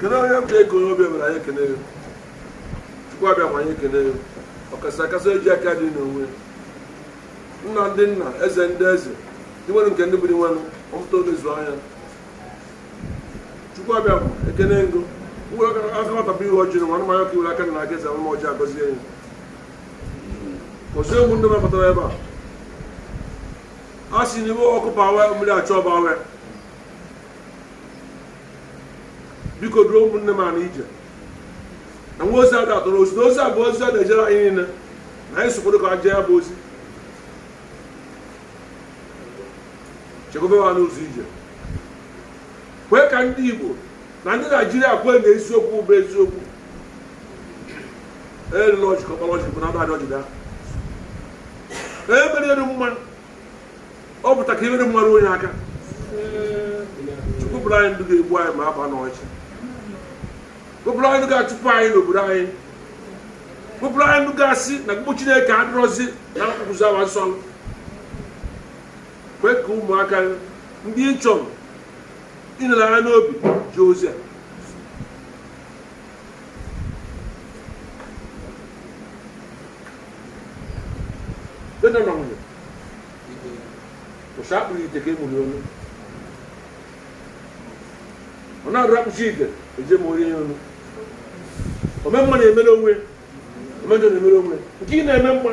kedu onye bụ ego onye ọbịa mere anyị ekene ya Chukwu Abịama anyị ekene ya ọkasị akasị eji aka dị n'onwe nna ndị nna eze ndị eze ndị nwere nke ndị bụrụ nwenụ ọmụta olezuo anya Chukwu Abịama ekene m gị o akọmatapụ ihe ọjị na nwanụmanya ka iwere aka na aga eze anụma ọjị agọzie ya ọzọ egwu ndị nabatara ebe a a sị n'ime ọkụ bawe mmiri achọ bawe biko duru ụmụnne m a n'ije na nwa ozi a ga-atọrọ ozi na ozi a bụ ozi a na-ejere anyị niile na anyị so kwado ka a jee ya bụ ozi chekwaba ha n'ụzọ ije kwee ka ndị Igbo na ndị Naijiria kwee na eziokwu bụ eziokwu elụla ọjị ka ọkpara ọjị bụ na adị ọjị daa emere elu mma ọ pụta ka ihere mmadụ onye aka chụpụrụ anyị ndị ga-egbu anyị ma aba n'ọchị bupụrụ anyị ndị ga-achụpụ anyị n'obodo anyị bupụrụ anyị ndị ga-asị na mkpụ chineke adịrọzi na nkwụkwụzi awa nsọ Kwe ka ụmụaka gị ndị ị chọrọ ịnara ha n'obi jee ozi a. Di na nwunye, ụsa akpụrụ ite ka emuli ọnụ. Ọ na-arụ akpụchi ite eje ma orie ya ọnụ. Ome mma na-emere onwe, ome njọ na-emere onwe. Nke ị na-eme mma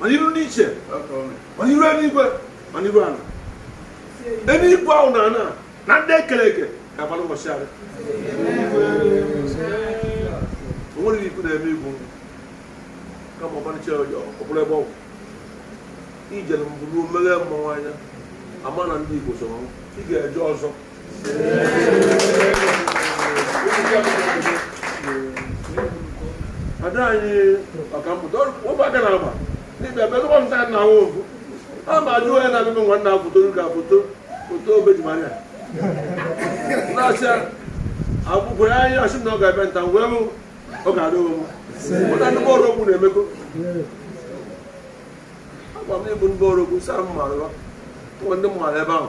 ma n'iru ndị ichie ma n'iru eluigwe ma n'iru ala eluigwe ahụ na ana na ndị ekere eke ga-agbara ụbọchị ahụ o nwere ikwu na-eme igwu kama ọmarịcha ọjọọ ọ bụrụ ebe ọgwụ ijere mbụ ruo meghe mmọnwụ anya ama na ndị igbo so ị ga-eje ọzọ ada anyị ọkammụta ụmụaka na-agba dịbịa bịa tụkwa nta na ahụ ofu a ma ajụ onye na-abịa nwa nna foto ga foto foto obejimanya na-asịa akwụkwọ ya anyị asị na ọ ga-abịa nta wee hụ ọ ga-adị onwe m ụta ndị bọọlụ okwu na-emekọ agwa m ịbụ ndị bọọlụ okwu saa m mara ụwa ndị mmadụ ebe ahụ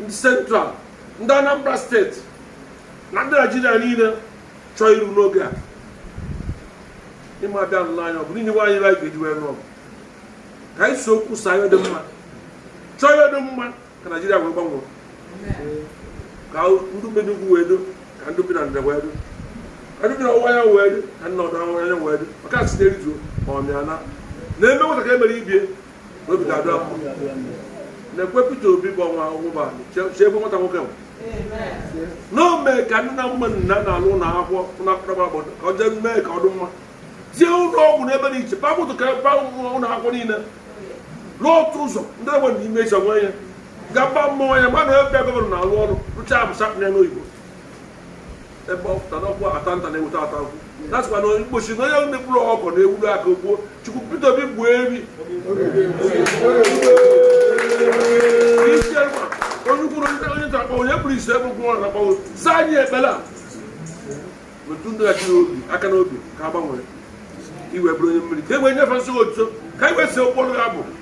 ndị central ndị anambra steeti na ndị naijiria niile chọọ iru n'oge a ịma abịa nụrụ anya ọ bụ niile nwaanyị anyị ga-eji wee nụọ ka anyị so kwusaa ihe dị mma chọọ ihe dị mma ka naijiria wee gbanwee ka ndị bi n'ugwu nwee udo ka ndị bi na ndịda nwee udo ka ndị bi na ọwụwa ya nwee udo ka ndị na ọdịda anyanwụ nwee udo maka a sị na-erijuo ma ọ mịa na e mee nwata ka e mere ibie obi ga-adị ya mma nakwa Peter Obi bụ ọnwa ụgbọ si ebe nwata nwoke m na o mee ka nna mma nna na-alụ ụlọ akwụkwọ ụlọ akwụkwọ gbara obodo ka ọ jee mee ka ọ dị mma tie ụlọ ọgwụ n'ebe dị iche papụtụ ka ba ụlọ akwụkwọ niile lụọ otu ụzọ ndị egbe na ime ịchọ nwe ya ga mba mmụọ ya mmadụ ebe gọvanọ na-alụ ọrụ rụchaa abụsa na elu oyibo ebe ọ pụtara ọkwa ata nta na-eweta ata nkwụ na-asịkwa na Igbo sị na onye mekpụrụ ọkọ na-ewuru aka gbuo chukwu Peter Obi gbuo eri onye ukwu onye nta akpọ onye kpuru isi ebe gwụrụ na gbanwe za anyị ekpere a metụ ndị achị n'obi aka n'obi ka a gbanwere iwe bụrụ onye mmiri ka e wee nyefe nsogbu otuto ka anyị wee si ụkpọrụ ya bụ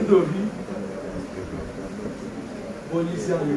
ndị obi bụ onye isi anyị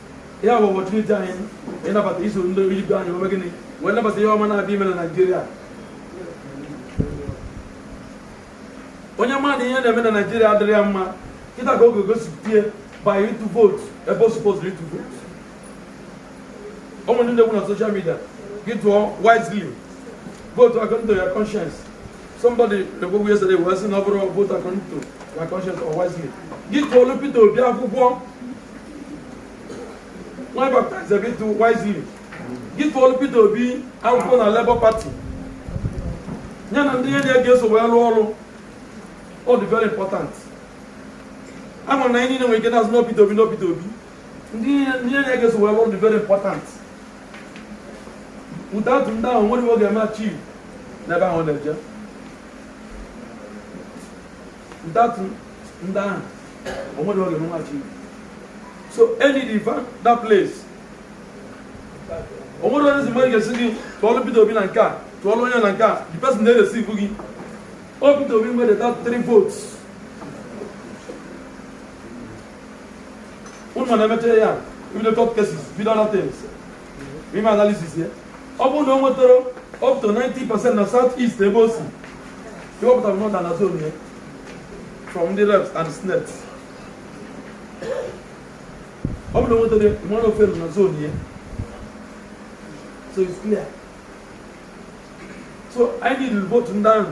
ya bụ opportunity anyị ịnabata iso ndị ibe anyị mee gịnị wee nabata ihe ọma na-abịa ime na naijiria onye ma na ihe na-eme na naijiria adịrị ya mma kịta ka o je gosipụta by ịtụ vootu ebe o supozuru ịtụ vootu o nwere ndị na-ekwu na social media gị tụọ wisely vootu according to your conscience somebody na-ekwu okwu yesterday wee sị na ọ bụrụ vootu according to your conscience or wisely gị tụọlụ Peter Obi akwụkwọ nwa baptize ebe ịtụ wisely gị tụọlụ Peter Obi akwụkwọ na Labour Party ya na ndị enyi ya ga-eso wee rụọ ọrụ ọ dị very important a ma na anyị niile nwere ike na-asị na ọ bụ Peter Obi na ọ bụ Peter Obi ndị enyi ya ga-eso wee rụọ ọrụ dị very important without ndị ahụ o nwerọ ihe ọ ga-achieve n'ebe ahụ na-eje Without ndị ahụ o nwerọ ihe ọ ga-achieve so anyị define that place o nwere onye zima ga-asị gị tụọlụ Peter Obi na nke a tụọlụ onye na nke a the person na-edeceive gị o Peter Obi nwere that three votes ụnụ na-emecha ya ibido court cases bido other things i mee analysis ya ọ bụrụ na o nwetara up to 90 percent na south east ebe o si iwepụta m nọda na zone ya from ndị reps and senate ọ bụrụ na o nwetara mana ọ fail na zone ya so it's clear so anyị need vote ndị ahụ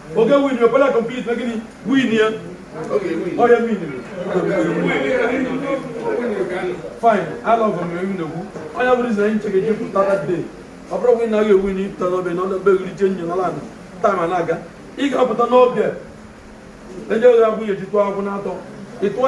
ọ ga-ewin yo pala complete na gini win ya oye win fine i love am ewu na egwu onye bụrụ izi na anyị ncheke ji pụta that day ọ bụrụ win na a ga-ewin ị pụta n'oge na ọdọbe ewuli je nyo n'ala anụ time na-aga ị ga-apụta n'oge eje oge abụghị eji tụọ akwụ n'atọ ịtụọ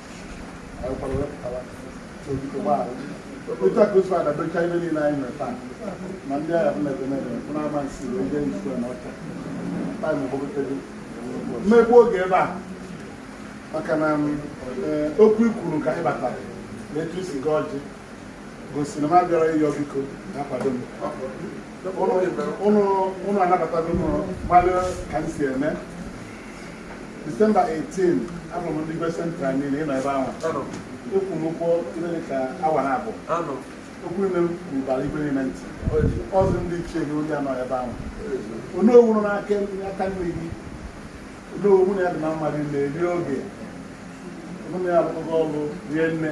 otu a ka otu a dabecha ibe niile anyị nwere time ndị agha bụ na-ebe na-ebe bụ na-ama nsi wee jee nsu na ọcha taa na ogbogotebe mmegbu oge ebe a maka na okwu i kwuru ka anyị batara na etu i si gọọ ọjị gosiri m abịara ịyọ biko na-akwado m ụnụ anabatago m gbalị ka m si eme December 18 ahụrụ m ndị Igwe Central niile ịnọ ebe ahụ okwu n'ụka ihe dị ka awa naabọ okwu ime m rubara igwe niile ntị ọzọ ndị ichie na onye nọ ebe ahụ onowu nọ n'aka aka nri gị onowu mụ na ya dị na mma rie nne eri oge mụ na ya alụkọgo ọrụ rie nne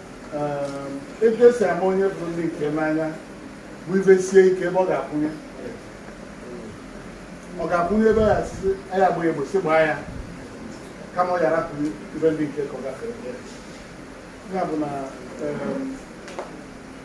ebe e si ama onye bụ dike n'anya bụ ive sie ike ebe ọ ga-akwụnye ọ ga-akwụnye ebe ya si ya gba egbo si gbaa ya kama ọ ya rapụ ive ndị nke ka ọ gafere ya bụ na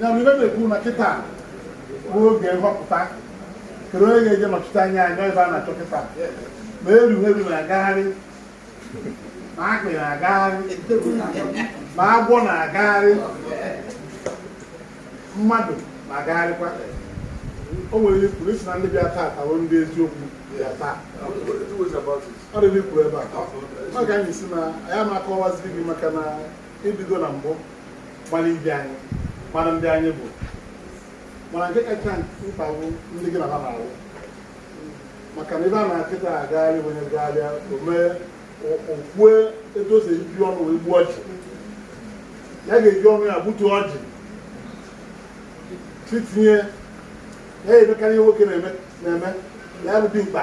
ya mere ibe na-ekwu na kịta bụ oge nhọpụta kedu onye ga-eje nọchite anya anyị ebe a na-achọ kịta ma eruru na-agagharị ma akpị na-agagharị ma agwọ na-agagharị mmadụ na-agagharịkwa o nwere ihe e kwuru sị na ndị bịa taa tawo ndị eziokwu bịa taa arịrị kwuru ebe a maka anyị si na anyị na-akọwaziri gị maka na e bido na mbụ gbara ibe anyị gbara ndị anyị bụ mana nke kacha mkpa bụ ndị gị na ha na-arụ maka na ebe a na kịta agagharị onye gagharịa o mee o kwue etu o si eji ọnụ wee gbuo ọjị ya ga-eji ọnụ ya gbutu ọjị titinye ya emekarị ihe nwoke na-eme ya bụ dimkpa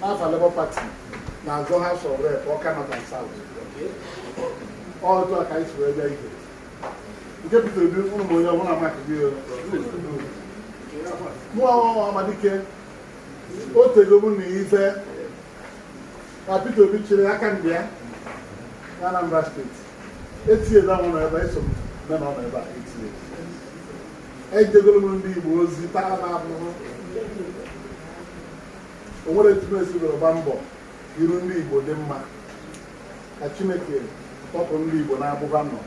n'afa Labour Party na-azọ House of Rep Awka North and South otu a ka anyị si wee bịa ije nke Peter Obi ụmụ onye ọbụla maka gị mụ nwa Ọhamadike o tego mụ na ife ka Peter Obi chịrị aka ndị ya na Anambra steeti etinyela nwụrụ ebe a eso m na nọ n'ebe a etinye ejegoro m ndị Igbo ozi tara m abụrụ o nwere etu m esigoro gba mbọ iru ndị Igbo dị mma ka Chineke tọpụ ndị Igbo n'agbụ ha nọ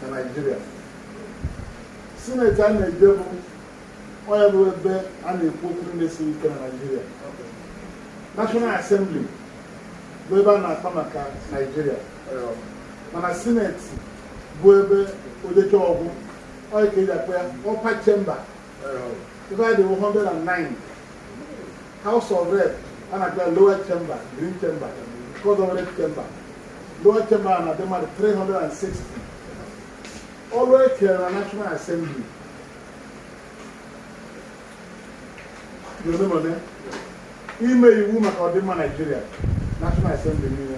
na Naịjirịa sineti a na-eje bụ ọ ya bụ ebe a na-ekwu okwu ndị siri ike na Naịjirịa National Assembly bụ ebe a na-akpa maka Naịjirịa mana sineti bụ ebe o jechaa ọ gwụ ọ ya ka eji akpọ ya upper chamber ebe a dị 109 house of rep a na-akpọ ya lower chamber green chamber nke ọzọ red chamber lower chamber a na-adị mmadụ 360 ọrụ e kere na national assembly dị ole ma ole ime iwu maka ọdịmma naijiria national assembly niile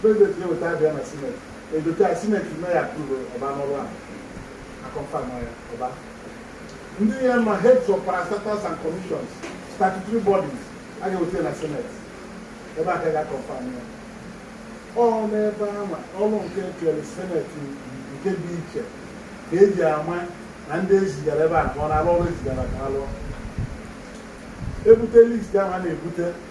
President ga-eweta abịa na sineti edote ya sineti mee ya approve ọ baa n'ọrụ ahụ a confirm ya ọba ndị ya ma heads of parastatals and commissions statutory bodies a ga-eweta na sineti ebe a ka a ga-confirm ya ọ n'ebe ama ọrụ nke e kere sineti nke dị iche ka eji ama na ndị ezigara ebe a ka ọ na-arụ ọrụ ezigara ka ha lụọ ebute list ahụ a na-ebute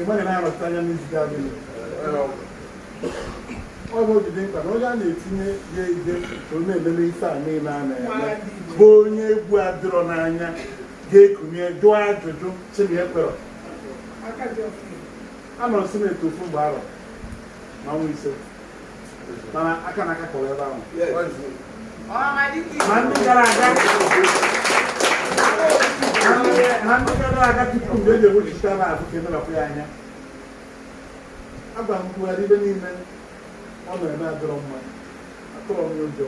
ịgbaghị na-anọchite anya n'izite adịghị ọ bụ o ji dị mkpa na onye a na-etinye ya ide ka ọ na-elele ife a niile a na-eme bụ onye egwu adịrọ n'anya ga-ekunie jụọ ajụjụ chi m kwere anọrọ sineti ofu mgbe arọ na ọnwa ise agwa m Buhari ife niile ọ na-eme adịrọ mma atụrọ m ụjọ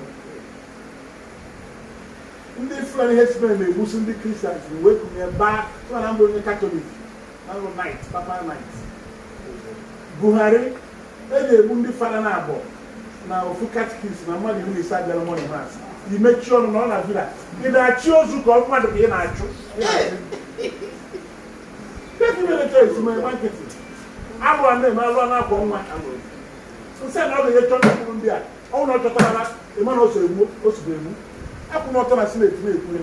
ndị Fulani herdsmen na-egbusi ndị Kristians wee kunie baa tụọ na m bụ onye katọlik Abụ m knight, papal knight. Buhari eje egbu ndị fada naabọ na ofu katikis na mmadụ iri na ise bịara morning mass i mechie ọnụ nọ na villa ị na-achị ozu ka ọ mmadụ ka ị na-achị efi mere choice ma ịgba nkịtị alụ a na-eme alụ a na-akwọ nwa nsị na ọ ga-eje chọta mkpụrụ ndị a ọ bụrụ na ọ chọtarọ na ị ma na o so egbu o so egbu akwụ m ọtọ na sineti na-ekwu ya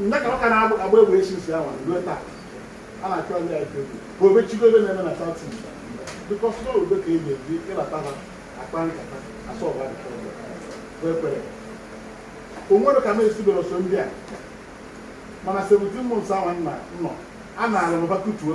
nne ka ọ ka na-agba agba egwu esi nsi ahụ ruo taa a na-achọ ndị IPOB ka obe chigo ebe na-eme na South East because na obe ka e ji eji ịbata ha akpa nkata asọ ọgba nkata ọgba bụ ekwere o nwere ka m esibere ọsọ ndị a mana 17 months ahụ nna nọ a na-alụ mba kutuo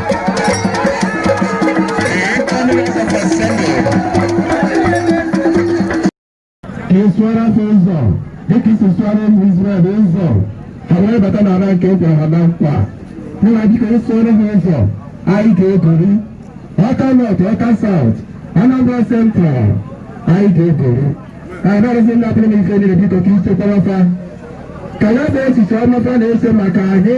ịsụara ha ụzọ dịka i si sụara ụmụ Izrel ụzọ ha wee bata n'ala nke e kwere ha na nkwa nna dịka ịsụara ha ụzọ anyị ga-egori Awka North Awka South Anambra Central anyị ga-egori ka anyị na-arụzi ndị atụrụ na ife niile biko ka i chekwara fa ka ya bụ echiche ọma fa na-eche maka anyị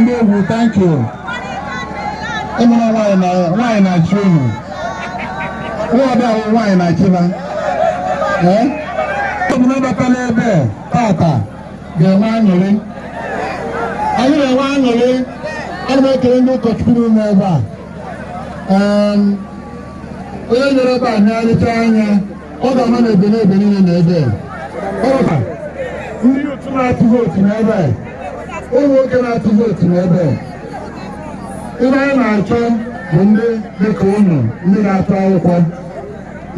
ndị egwu thank you ịmụrụ nwaanyị na-achị unu nwa ọbịa nwaanyị na-achịba ee ọ bụ na-abata n'ebe tata ga-enwe aṅụrị anyị na-enwe aṅụrị ana m ekele ndị ụkọchukwu nọ n'ebe a Em, onye nere ebe a nyarịta anya ọ ga-ama na Ebenebe niile na ebe ọ ga ndị youth na-atụ vootu n'ebe ụmụ nwoke na-atụ vootu n'ebe ihe anyị na-achọ bụ ndị dịka unu ndị na-atụ akwụkwọ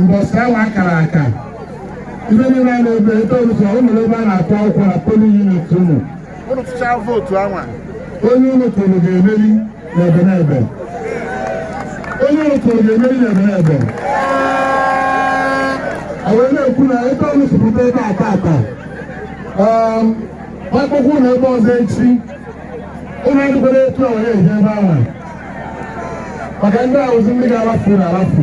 mbọsị anwa a kara aka ibe niile a na-ebe ebe ọbụla ụmụ ebe a na-atụ akwụkwọ na polling unit unu unu tụchaa vootu anwa onye unu tụrụ ga-emeri na Ebenebe onye unu tụrụ ga-emeri na Ebenebe wee na-ekwu na ebe unu si pụta ebe a tata um, akwụkwọ na ebe ọzọ echi unu adịkwara etu a wee eje ebe ahụ maka ndị ahụzi ndị ga-alafu na alafu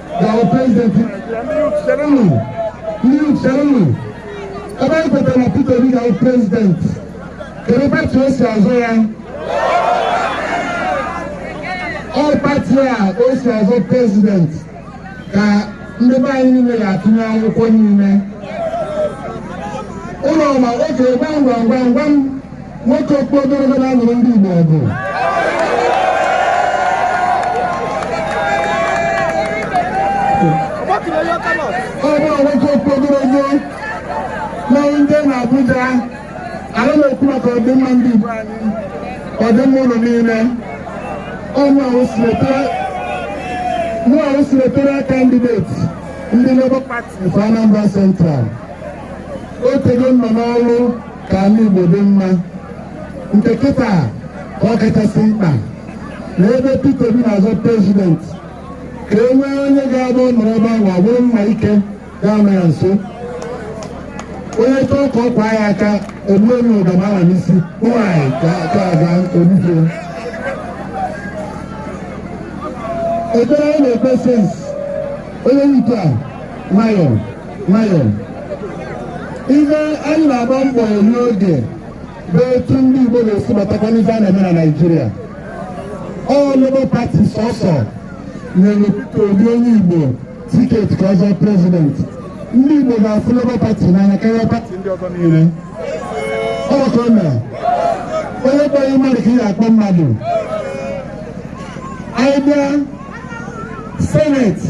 Our president, cherenụ, cherenụ, ebe anyị kwetara na Peter Obi ga-awụ president, kedu pati o si azọ ya? Ọ pati a o si azọ president ka ndị be anyị niile ga-atụnye akwụkwọ niile. Ụlọ ọma oge gbam gbam gbam gbam nwoke okpu ogologo na-alụrụ ndị Igbo ọgụ ọ bụ nwoke okpu ogologo na ndị na Abuja anyị na-ekwu maka ọdịmma ndị Igbo anyị ọdịmma ụnụ niile ọ bụ senatorial kandideti ndị Labour Party for Anambra Central o tego nọ n'ọrụ ka ala Igbo dị mma nke kịta ọ kachasị mkpa na ebe Peter Obi na-azọ prezidenti ka e nwee onye ga-aga nọrọ ebe ahụ ọ bụrụ mma ike ga-anọ ya nso onye chọọ ka ọ kwa ya aka egbuo onye ọ bụ mma ahụ n'isi nwanyị ka aga ọ bụ ife ekpere anyị na-ekpe since onye nke a nwayọọ nwayọọ ife anyị na-agba mbọ eri oge bụ etu ndị Igbo ga-esi batakwa n'ife a na-eme na Naịjirịa ọ Labour Party sọsọ nyere Peter Obi onye Igbo tiketi ka ọ zọọ prezidenti ndị Igbo ga-afụ Labour Party n'anya karịa pati ndị ọzọ niile ọ ka o mere onye kpọọ gị mmadụ ka ị ga-akpọ mmadụ anyị bịa seneti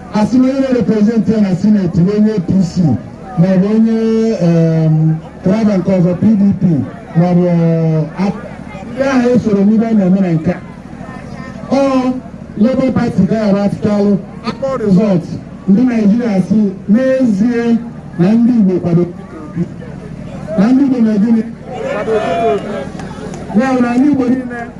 asị na onye na-reprezentị ya na sineti bụ onye apc maọbụ onye apga nke ọzọ pdp maọbụ ndị ahụ esoro n'ife a na-eme na nke ọ Labour Party ka a ga-atụchalụ akpọ rizọt ndị naijiria sị n'ezie na ndị igbo kwado na ndị igbo na-egini ya na ndị igbo niile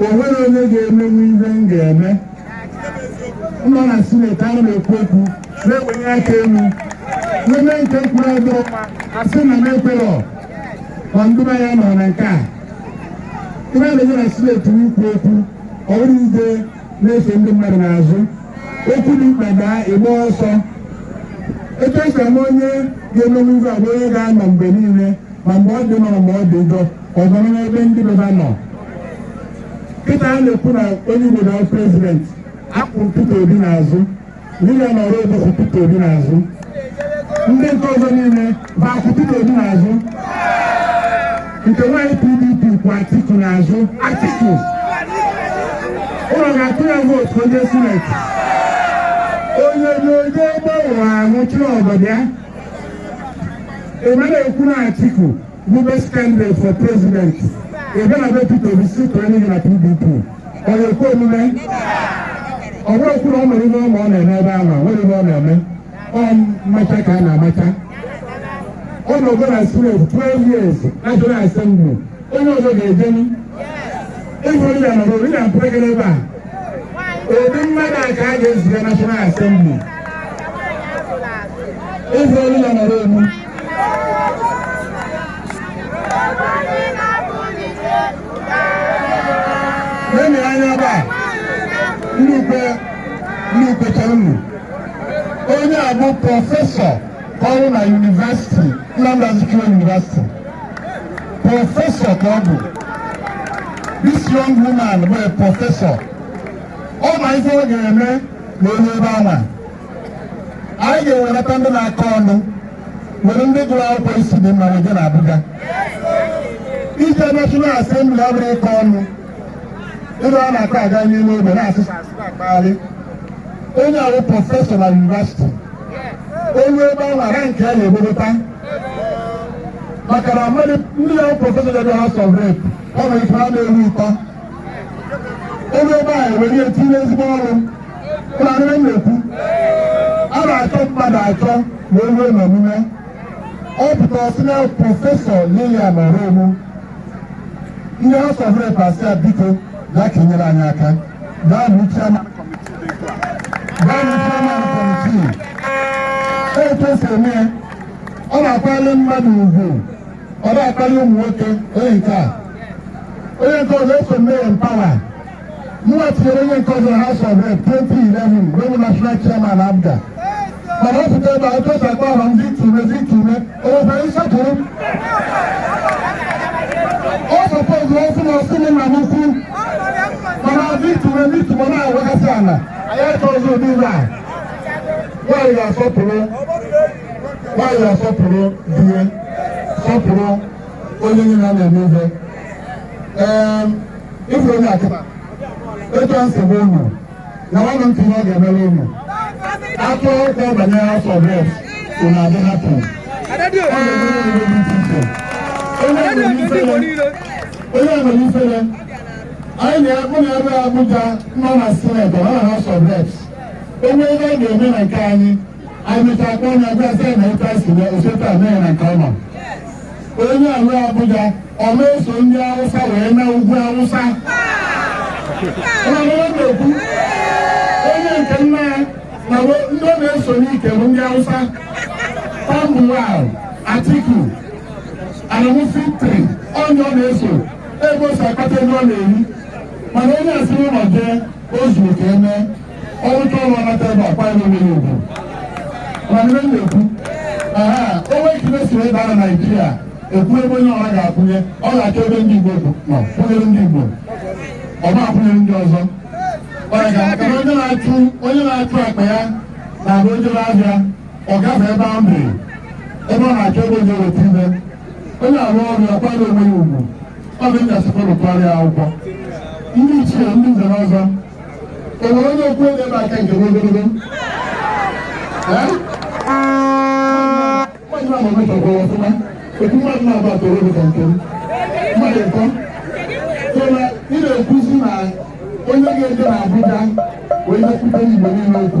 o nwere onye ga-emenwu ihe m ga-eme nọ na sineti ana m ekwu okwu na-ewenye aka elu n'eme nke mkpụrụ ọdụ asị na m ekwerọ ma ndụba ya nọ na nke a ife a na-eje na sineti ikwu okwu ọ bụrọ ije na-eso ndị mmadụ n'azụ okwu dị mkpa bịa ị gbaa ọsọ etu e si ama onye ga-emenwu ife a bụ onye ga-anọ mgbe niile ma mgbe ọ dị mma mgbe ọ dị njọ ọ nọrọ n'ebe ndị be ya nọ kịta a na-ekwu na onye Igbo na prezident akwụ Peter Obi n'azụ Lilian Orogbu kwụ Peter Obi n'azụ ndị nke ọzọ niile bụ akwụ Peter Obi n'azụ nke nwaanyị PDP kwụ Atiku n'azụ Atiku ụnụ ga-atụ ya vootu onye sineti onye onye onye gbanwere ahụ chụrụ ọgọdọ ya ebe na-ekwu na atiku bụ best candidate for president ebe na be peter obi si tụrụ n'ihi na pdp ọ na-ekwe omume ọ bụrụ okwu na ọ nwere ihe ọma ọ na-eme ebe ahụ nwere ihe ọ na-eme ọ mmacha ka a na-amacha ọ nọgo na sineti 12 years national assembly onye ọzọ ga-ejenu ịbụ ndị anọrọ ndị na-apụrụ gị n'ebe a ụdị mmadụ a ka a ga-eziga National Assembly ịbụ ndị na-anọrọ elu lenu anya ebe a nnukwu nnukwu chọrọ unu onye a bụ prọfesọ ọrụ na yunivesiti Nnamdi Azikiwe yunivesiti prọfesọ ka ọ bụ this young woman bụ prọfesọ ọ ma ife ọ ga-eme na o lue ebe anwa anyị ga-ewelata ndị na-akọ ọnụ were ndị gụrụ akwụkwọ isi dị mma weje na Abuja ije National Assembly abụrọ ịkọ ọnụ ndị a na-akọ aga n'ime ogbe na-asụsụ akpagharị onye a bụ prọfesọ na yunivasiti o lue ebe anwa nke a na-egbobata maka na ndị bụ prọfesọ dị House of Rep ọ nwere ike ha na-eru ịtọ o lue ebe a ewere ya tinye ezigbo ọrụ unu anụ ihe m na-ekwu a na-achọ mmadụ achọ na eruo n'omume ọ pụtara sị na prọfesọ Lilian Orogbu ndị House of Rep asị ya biko bịa ka i nyere anyị aka gaa bụ chairman kọmitii etu esi eme ya ọ na-akwanyere mmadụ ugwu ọ na-akwali ụmụ nwoke onye nke a onye nke ọzọ eso m mee ya mpawa mụnwa tinyere onye nke ọzọ House of Rep 2011 mgbe m bụ national chairman APGA mana ọ pụta ebe a otu esi akpọ aha m Victor Umeh Victor Umeh o nwekwara nsọpụrụ ọ sọpọzụ ọ sị na ọ sị m nna m ukwu mana Victor Umeh Victor Umeh na-awagasị ala anyị achọghịzi ụdị ife a nwaanyị ga-asọpụrụ nwaanyị ga-asọpụrụ di ya sọpụrụ onye niile a na-eme ihe ịfụ onye akụba etu a nsogbu ụnụ na nwanne ntị ihe ọ ga-emere ụnụ atụ ụkwụ banyere House of Reps ụnụ adị hapụ onye nwere ifere anyị na-akpụ na ebe Abuja nọ na Senate nọ na House of Reps onye ebe ọ ga-eme na nke anyị Emechaa akpọ onye agwa sị na ụta si na oseta mee na nke ọma. Onye ahụ Abuja ọ na-eso ndị Awụsa wee na ugwu Awụsa. na-ekwu onye nke nna ya na ndị ọ na-eso n'ike bụ ndị Awụsa. Tambuwal, Atiku, Adamu Fintiri, onye ọ na-eso ebe o si akpata ego ọ na-eri. Mana onye a si n'ụlọ jee o zuru ka emee. ọ rụcha ọrụ ọ nata ebe a kwara onwe ya ugwu mana ihe na-ekwu aha onwe ekele si ebe a na naijiria ekwu ebe onye ọra ga-akwụnye ọ ga-achọ ebe ndị igbo nọ kwụnyere ndị igbo ọ ma akwụnyere ndị ọzọ ọ ya ga maka na onye na-achụ onye na-achụ akpa ya na-abụ o jere ahịa ọ gafe ebe ahụ dị ebe ọ na-achọ ebe onye weta ibe onye arụ ọrụ ya kwara onwe ya ugwu ọ bụ ndị asịkwa rụkwarịa akwụkwọ ndị ichie ndị nze na ọzọ o nwere onye okwu ebe ebe aka nke ogologo mmadụ ama metọkwa ọfụma otu mmadụ na-abụ atọ obi ka nke m mmadụ nkọ so na ị na-ekwuzi na onye ga-eje na Abuja wee na-ekwute Igbo niile okwu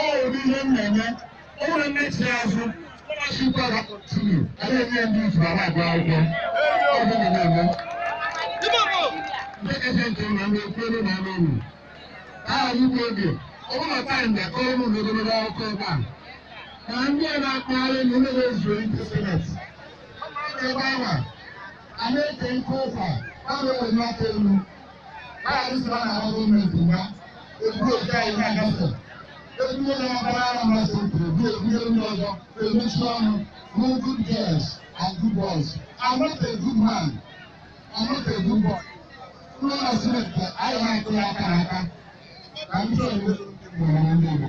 ọ ụdị ihe m na-enye o nwere mmechi azụ ọchịkwa ga kọntinu a na-enye ndị izu ara agụ akwụkwọ ọ bụ na na-eme nke kacha nke na ndị ekwere na anụ ụlọ aha ugbo oge ọ bụrụ na taịm na akọrọ ụlọ na ogologo akụkọ ebe a na ndị a na-akpagharị na ụlọ ezu ndị seneti ebe ahụ a na-eke nke ụkwa ọ na-enwe aka elu Maazị Sọla na-agba gọọmenti mgba eburu oke anyị na-agafe ebunye na ọbara Anambra Central ebu ebunye ndị ọzọ emechi ọnụ no good girls and good boys I'm not a good man I'm not a good boy ụlọ na sineti anyị na-akụ ya aka n'aka na ndị ọzọ ndị Igbo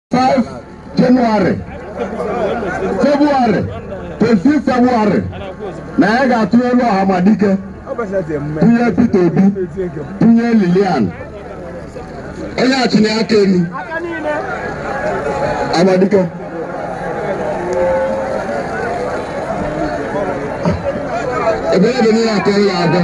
5 Jenụwarị Febụwarị 25 Febụwarị na anyị ga-atụnyelu Ọhamadike tụnye Peter Obi tụnye Lilian onye achịna aka elu Ọhamadike Ebenebe niile atọ ya abụọ